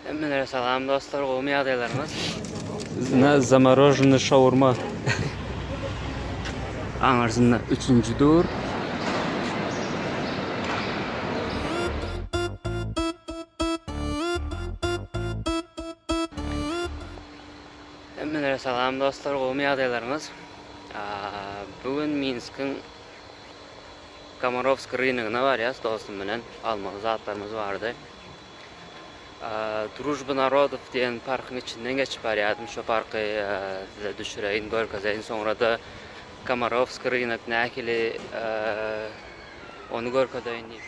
Hemmelere salam dostlar, gowmy ýagdaýlaryňyz? Na zamorozhny şawurma. Aňyrsynda üçünji dur. Hemmelere salam dostlar, gowmy ýagdaýlaryňyz? Bu gün Minskiň Komorowsk rynygyna barýas dostum bilen, almaly zatlarymyz bardy. Družba narodow diýen parkyň içinden geçip barýardym. Şo parky size düşüreýin, görkezeýin. Soňra-da Komarowskiý rynak nähili, ony görkezeýin diýip.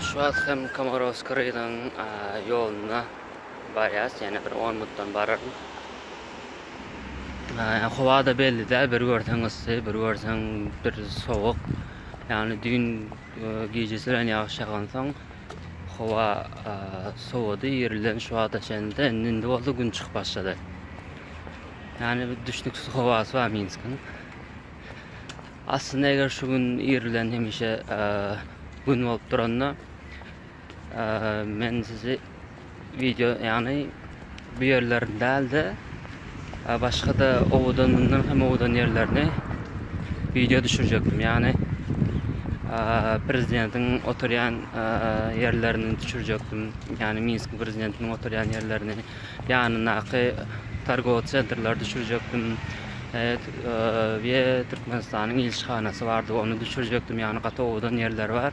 Şu wagt hem Komorowski raýonynyň ýoluna barýas, ýene bir 10 minutdan bararyn. Howa-da belli däl, bir görseň yssy, bir görseň bir sowuk. Ýagny düýn gijesirän ýagyş ýagansoň howa sowady, irden şu wagta çenli-de, indi bolsa gün çykyp başlady. Ýagny bir düşnüksiz howasy bar Minskiň. Aslynda eger şu gün irden hemişe gün bolup duranda Men sizi video ýagny bu ýerlerini dälde başga-da owadan mundan hem owadan ýerlerini video düşürjekdim. Ýagny prezidentiň oturýan ýerlerini düşürjekdim. Ýagny Minsk prezidentiniň oturýan ýerlerini, ýanyndaky targowy sentrleri düşürjekdim. we Türkmenistanyň ilçihanasy bardy, ony düşürjekdim. Ýagny gaty owadan ýerleri bar.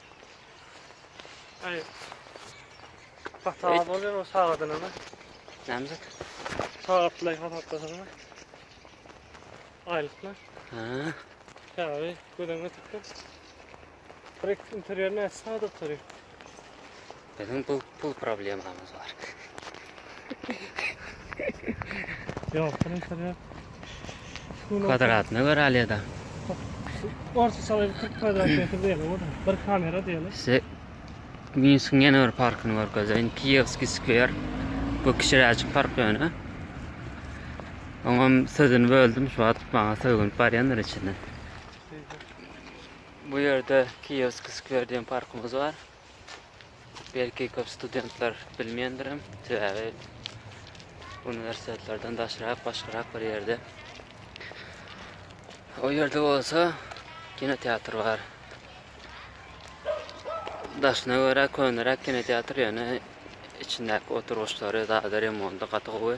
Ay. Hata bolýan o sagadyna mı? Näme zat? Sagatlay hasaplasaňa. Aýlyklar. Ha. Käbi gözüňe tutdu. Direkt interýerine sagat oturyp. Biziň pul pul problemamyz bar. Ýok, şunuň içinde Kwadratna göre alýada. Orta salyp 40 kvadrat metr diýeli o da. Bir kamera diýeli. Size Minskiň ýene bir parkyny görkezeýin. Kiýewskiý skwer. Bu kiçiräjik park ýöne. Oňam sözüni böldüm, şu wagt maňa sögünip barýandyr içinden. Bu ýerde Kiýewskiý skwer diýen parkymyz bar. Belki köp studentler bilmeýändirem, sebäbi uniwersitetlerden daşrak, başgarak bir ýerde. O ýerde bolsa kinoteatr bar. Daşyna görä köneräk kinoteatr, ýöne içindäki oturgyçlary, zady remonty gaty gowy.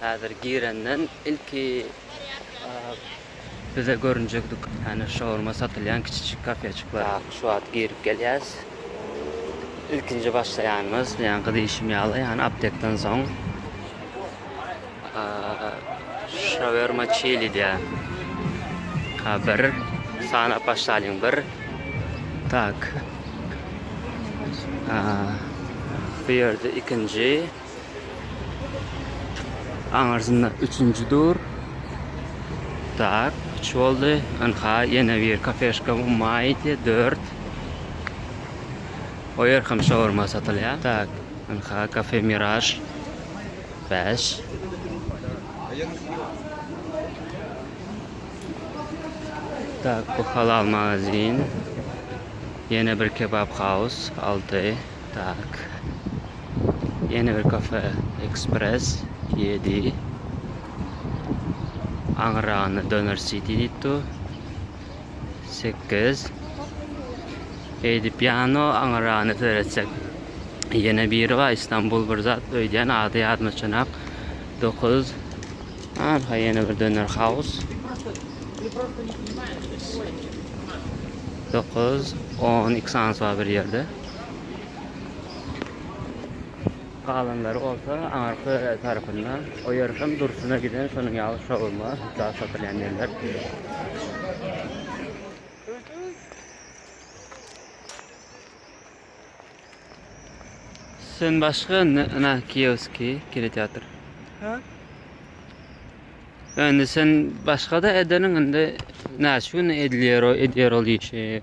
Häzir girenden ilki bize görünjek dükan, şaurma satylýan kiçijik kafeçikler. Şu wagt girip gelýäs. Ilkinji başlaýanymyz, ýaňky diýşim ýaly, ýany aptekden soň şaurma çili diýýär. Ha bir sanap başlalyň bir. Tak. Bu ýerde ikinji. Aňyrsynda üçünji dur. Tak, üç boldy. Ynha, ýene bir kafeşka Maýte, dört. O ýer hem şaurma satylýar. Tak, ynha kafe Miraž, bäş. Tak, bu halal magazin. Ýene bir kebap haus, alty. Tak. Ýene bir kafe Express ýedi. Aňyrragynda Doner City diýip dur. Sekiz. Eýdip ýano aňyrragynda seretsek. Ýene biri bar Istanbul bir zat öýdýän ady ýadyma çynak. Dokuz. Arha ýene bir Doner House. Dokuz. On. Xans bar bir ýerde. Galanlary bolsa aňyrky tarapynda, o ýer hem durşuna giden şonuň ýaly şaurma, zat satylýan ýerler. Sen başga na kioski kinoteatr. Ha? Indi sen başga da edeniň indi näçe gün edilýär o edýär ol işi.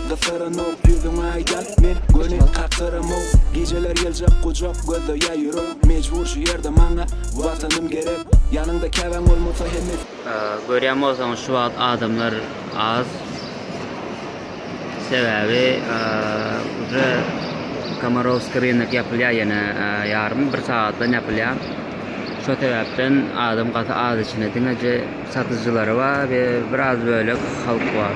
Gytaranok ýüzüň aýda men göni kakyramok Gijeler ýyljak gujak gözde ýa ýürek Mejbur şu ýerde maňa watanym gerek Ýanyňda käbäň bolmasa hemme Görýän bolsaňyz şu wagt adamlar az Sebäbi uje Komarowski rynak ýapylýa ýene ýarym bir sagatdan ýapylýa Şo sebäpden adam gaty az içinde diňeje satyjylary bar we biraz bölek halk bar.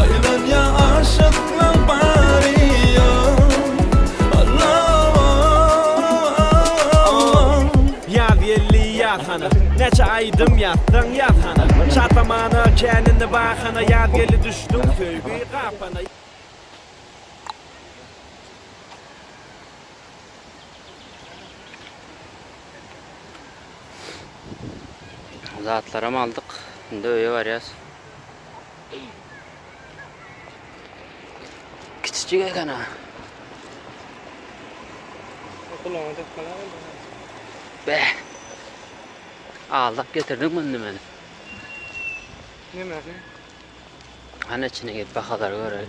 Aýlanýa aşyklar bary ýok Alloh Ýaz geldi ýaz hana Näçe aýdym ýazsaň ýaz hana Şatamana känini bahana Ýaz geldi düşdüň söýgi gapana. Zatlaram aldyk. Indi öýe barýas. Kiçijik eken a. Kulağına tıkmalar oldu. Be. Aldap getirdik bunu meni. Ne mi? Hani içine git bakalım görelim.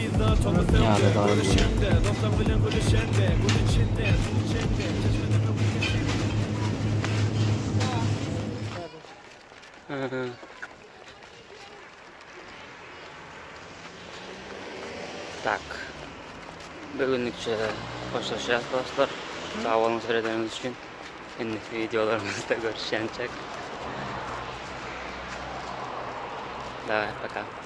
Ýada galan Tak. Bir günlükçe hoşlaşýas dostlar. Sag boluň seredeniňiz üçin. Indiki wideolarymyzda görüşýänçek. Dawaý, paka.